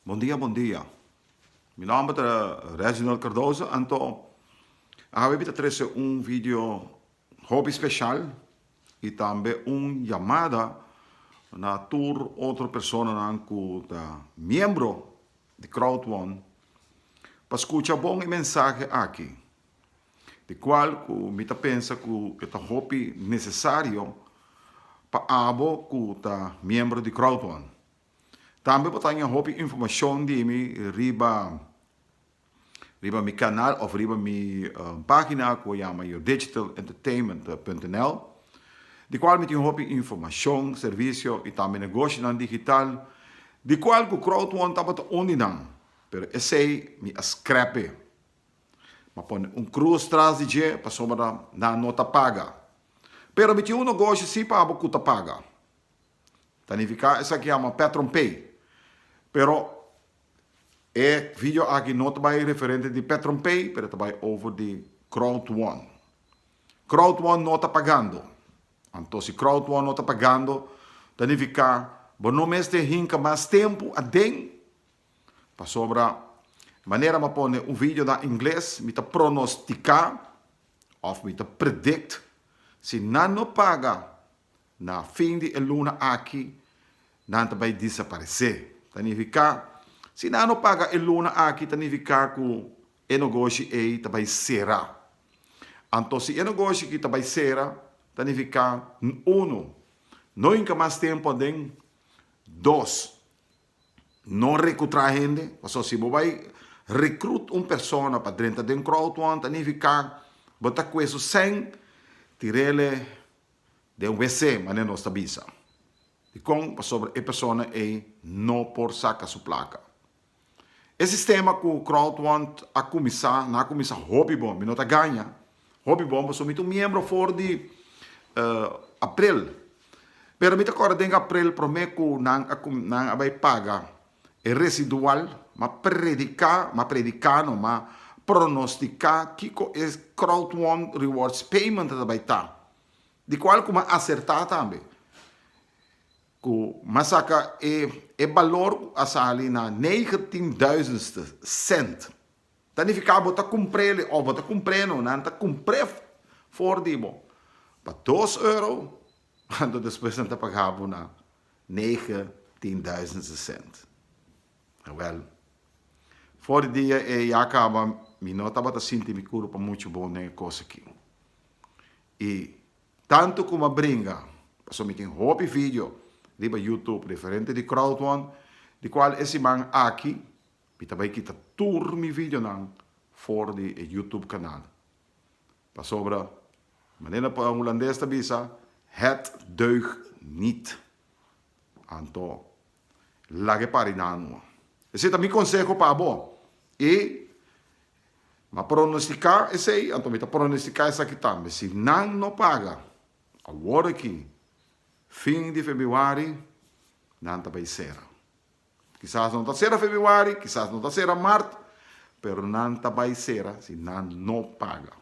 Bon dia bon dia mi nomber ta Reginald Cardoso anto awe mi ta trese un video hopi special y tambe un llamada na tur otro personanan cu ta miembro di crowdfund pa scucha bon e mensahe aki. di cual cu mi ta pensa cu e ta hopi necesario pa abo cu ta miembro di Crowdhon. Tambe bo ta haña hopi informacion di mi riba riba mi canal of riba mi pagina cu a yama Your Digital Entertainment punto nl di cual mi tin hopi informacion, servicio y tambe negoshonan digital di cual cu Crowdhon tabata un di nan pero esey mi a scrap'e. M'a pone un cruz tras di dje pasobra nan no ta paga. Pero mi tin un nogoshi si pa abo cu ta paga. Ta nifica esaki yama patron pay. Pero e video aki no ta bay referente di patron pay pero ta bay over di crowd won. Crowd won no ta pagando. Anto si crowd won no ta pagando ta nifica bo no mester hinca mas tempo aden. Pasobra manera m'a pone un video na ingles, mi ta pronosticá òf mi ta predict si nan no paga na fin di e luna aki nan ta bai desaparesé. Ta nifiká si nan no paga e luna aki ta nifiká ku e nogoshi ei ta bai sera. Anto si e nogoshi ki ta bai sera ta nifiká unu no hinka mas tempu aden, dos No recutra hende, pasobra si bo bay recruit un persona pa drenta den crowd one ta nifica bo ta cue su seng tirele den WC manera nos ta bisa. Dicon? Pasobra e persona ey no por saca su placa. E sistema cu crowd one a cuminsa, na cuminsa hopi bon, mi no ta gaña, Hopi bon pasobra mi ta un miembro for di aprel pero mi ta kòrda den aprel promé ku nan a ku nan a bai paga e residual m'a prediká m'a prediká no m'a pronostiká kiko e crowd won rewards payment ta bai ta di kual ku m'a asertá tambe ku m'a saka e balor ku a sali na neigentien duizendste cent. Ta nifiká bo ta kumpr'é li òf bo ta kumpr'é no, nan ta kumpr'é for di bo pa dos euro kantu despues nan ta pagá bo na nege tin duizend sesènt. Wèl, for di dia ei ya kaba mi no tabata sinti mi kuru pa muchu bon den e kos aki. I tantu ku mi a bringa, pasobra mi tin hopi vidio riba Youtube referente di crowdfund, di kual e siman aki, Mi ta bai kita tur mi videonan for di e YouTube kanal. Pasobra, manera pa Hulandes ta bisa, het deugt niet. Anto, laga e parinan ua. Esei ta mi konseho pa abo. I mi a pronostiká esei, anto mi ta pronostiká esaki tambe, si nan no paga awor aki fin di febuari, nan ta bai sera. Kisas no ta sera febuari, kisas no ta sera mart, pero nan ta bai sera si nan no paga.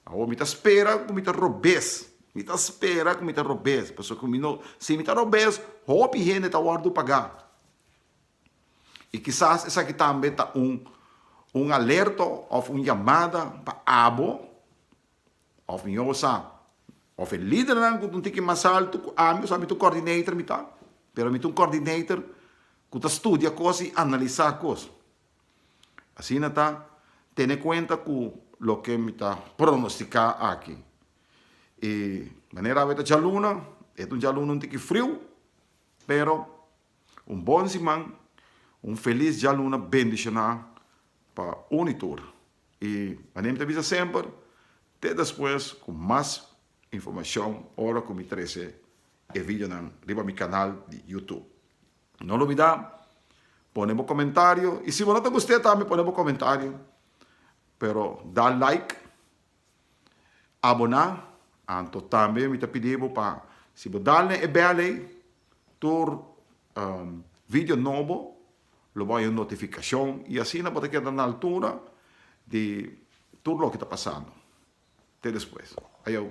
Awor mi ta spera ku mi ta robes, mi ta spera ku mi ta robes, pasobra mi no, si mi ta robes hopi hende ta wòrdu pagá. I kisas esaki tambe ta un un alerto òf un yamada pa abo Of mi yo sa, of e lidernan cu ta un tiki mas alto cu ami, cu sa mi ta un coordinator mi ta, pero mi ta un coordinator cu ta studia cos y analisa cos. Asina ta, tene cuenta cu loke mi ta pronostica aki. Y manera awe ta djaluna, e ta un djaluna un tiki friu, pero Un bon siman, un felis djaluna bendishoná pa un i tur. I anemi ta bisa semper, te despues ku mas informashon ora ku mi trese e videonan riba mi kanal di Youtube. No lubidá pone bo komentario i si bo no ta gust'é tambe pone bo komentario pero da like. Aboná, anto tambe mi ta pidi bo pa si bo dal na e bèl ei tur video nobo lo bo haña un notifikashon i asina bo ta keda na altura di tur loke ta pasando. Te despues. Ayow.